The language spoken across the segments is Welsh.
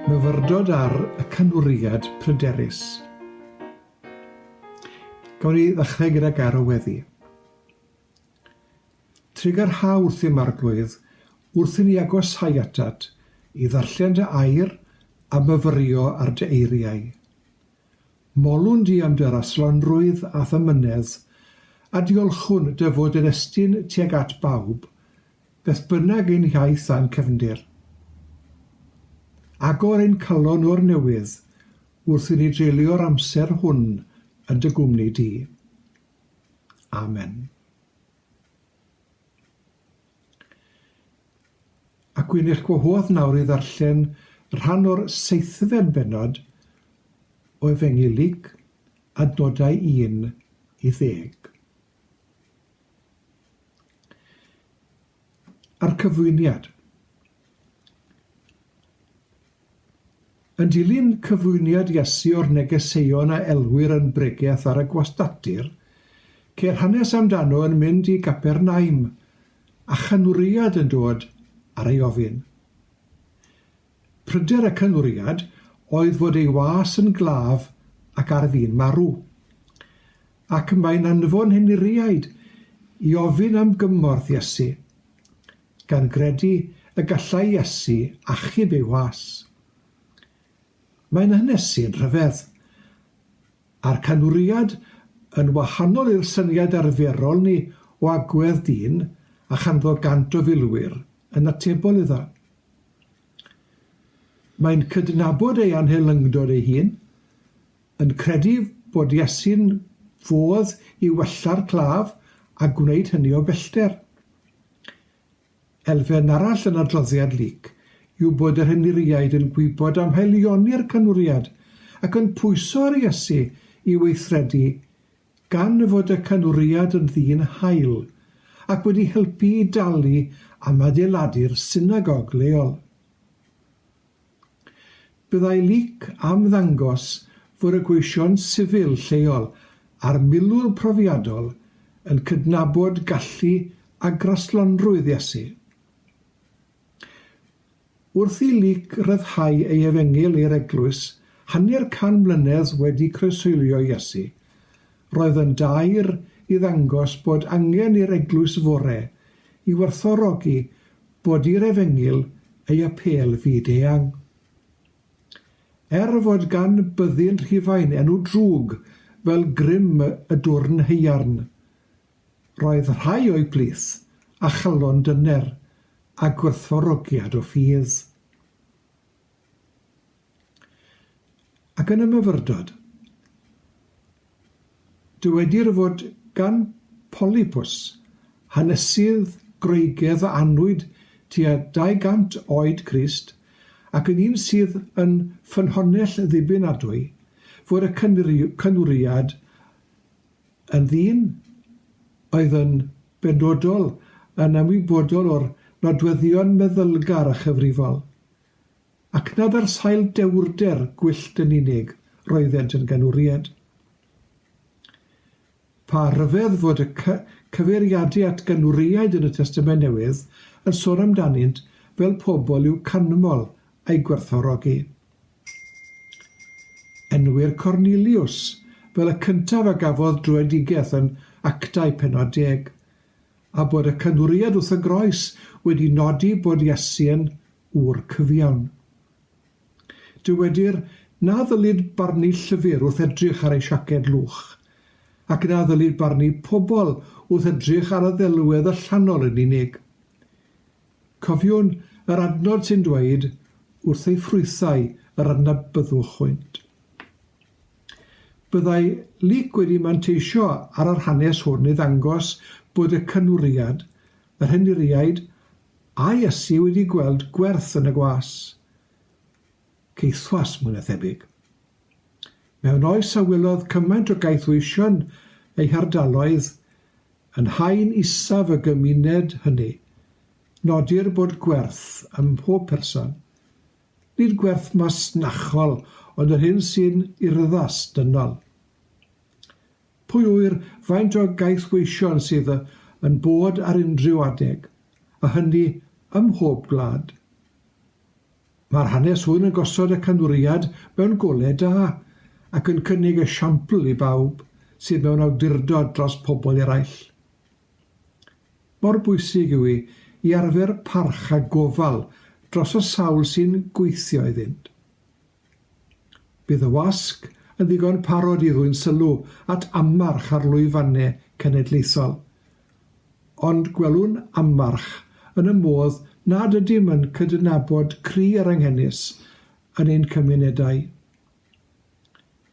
Myfyrdod ar y canwriad pryderus. Gawn ni ddechrau gyda garo weddi. Trigarha wrth i'r marglwydd wrth i ni agosáu atat i ddarllen dy air a myfyrio ar dy eiriau. Molwn di am dy raslanrwydd a thymynedd, a diolchwn dy fod yn estyn tuag at bawb, beth bynnag ein hiaith a'n cefndir. Agor ein calon o'r newydd wrth i ni dreulio'r amser hwn yn dy gwmni di. Amen. Ac wi'n eich gwahodd nawr i ddarllen rhan o'r seithfed bennod o Efengyl Luc, adnodau 1 i ddeg. A'r cyflwyniad. Yn dilyn cyflwyniad Iesu o'r negeseuon a elwir yn bregeth ar y gwastatir, ceir hanes amdano yn mynd i Gapernaum a chynwriad yn dod ar ei ofyn. Pryder y cynwriad oedd fod ei was yn glaf ac ar fin marw. Ac mae'n anfon henuriaid i ofyn am gymorth Iesu. gan gredu y gallai Iesu achub ei was. Mae'n hanesydd rhyfedd, a'r canwriad yn wahanol i'r syniad arferol ni o agwedd dyn a chanddo gant o filwyr yn atebol iddo. Mae'n cydnabod ei anhelyngdod ei hun, yn credu bod Iesu'n fodd i wella'r claf a gwneud hynny o bellter. Elfen arall yn adroddiad Luc yw bod yr Henuriaid yn gwybod am haelioni'r canwriad ac yn pwyso ar Iesu i weithredu gan fod y canwriad yn ddyn hael ac wedi helpu i dalu am adeiladu'r synagog leol. Byddai Leek am ddangos fod y gweision sifil lleol a'r milwr profiadol yn cydnabod gallu a graslonrwydd Iesu. Wrth i Leek ryddhau ei efengyl i'r eglwys hanner can mlynedd wedi croeshoelio Iesu, roedd yn daer i ddangos bod angen i'r eglwys fore i werthfawrogi bod i'r Efengyl ei apêl fyd-eang. Er fod gan Byddin Rhufain enw drwg fel grym y dwrn haearn, roedd rhai o'i blith a chalon dyner a gwerthfawrogiad o ffydd. Ac yn y myfyrdod, dywedir fod gan Polypus hanesydd Groegaidd a anwyd tua 200 oed Crist ac yn un sydd yn ffynhonnell ddibynadwy fod y cynwriad yn ddyn oedd yn benodol yn ymwybodol o'r nodweddion meddylgar a chyfrifol. ac nad ar sail dewrder gwyllt yn unig roeddent yn ganwriad. Pa ryfedd fod y cyfeiriadu at ganwriaid yn y Testament Newydd yn sôn amdanynt fel pobl i'w canmol a'u gwerthfawrogi. Enwir Corneliws fel y cyntaf a gafodd dröedigaeth yn Actau pennod deg, a bod y canwriad wrth y groes wedi nodi bod Iesu'n ŵr cyfiawn. Dywedir na ddylid barnu llyfr wrth edrych ar ei siaced lwch, ac na ddylid barnu pobl wrth edrych ar y ddelwedd allanol yn unig. Cofiwn yr adnod sy'n dweud, Wrth ei ffrwythau yr adnabyddwch hwynt. Byddai Luc wedi manteisio ar yr hanes hwn i ddangos bod y cynwriad, yr henuriaid, a Iesu wedi gweld gwerth yn y gwas. Caethwas, mwy na thebyg. Mewn oes a welodd cymaint o gaethweision eu hardaloedd, yn haen isaf y gymuned hynny, nodir bod gwerth ym mhob person, Nid gwerth masnachol, ond yr hyn sy'n urddas, dynol. Pwy ŵyr faint o gaethweision sydd yn bod ar unrhyw adeg, a hynny ym mhob gwlad. Mae'r hanes hwn yn gosod y canfwriad mewn golau da, ac yn cynnig esiampl i bawb sydd mewn awdurdod dros pobl eraill. Mor bwysig yw hi i arfer parch a gofal dros y sawl sy'n gweithio iddynt. Bydd y wasg yn ddigon parod i ddwyn sylw at ammarch ar lwyfannau cenedlaethol, ond gwelwn ammarch yn y modd nad ydym yn cydnabod cri yr anghenus yn ein cymunedau.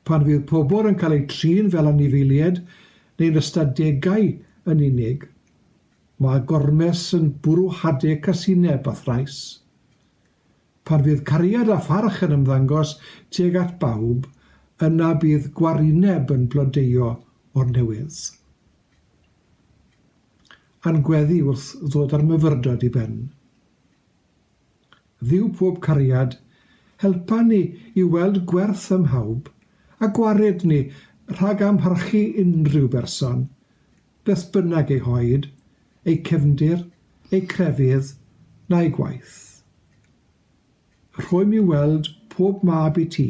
Pan fydd pobl yn cael eu trin fel anifeiliaid neu'n ystadegau yn unig, mae gormes yn bwrw hade casineb a thrais. Pan fydd cariad a pharch yn ymddangos tuag at bawb, yna bydd gwarineb yn blodeuo o'r newydd. A'n gweddi wrth ddod â'r myfyrdod i ben. Dduw pob cariad, helpa ni i weld gwerth ym mhawb, a gwared ni rhag amharchu unrhyw berson, beth bynnag ei hoed, ei cefndir, ei crefydd, na'i gwaith. Rhwym i weld pob mab i ti,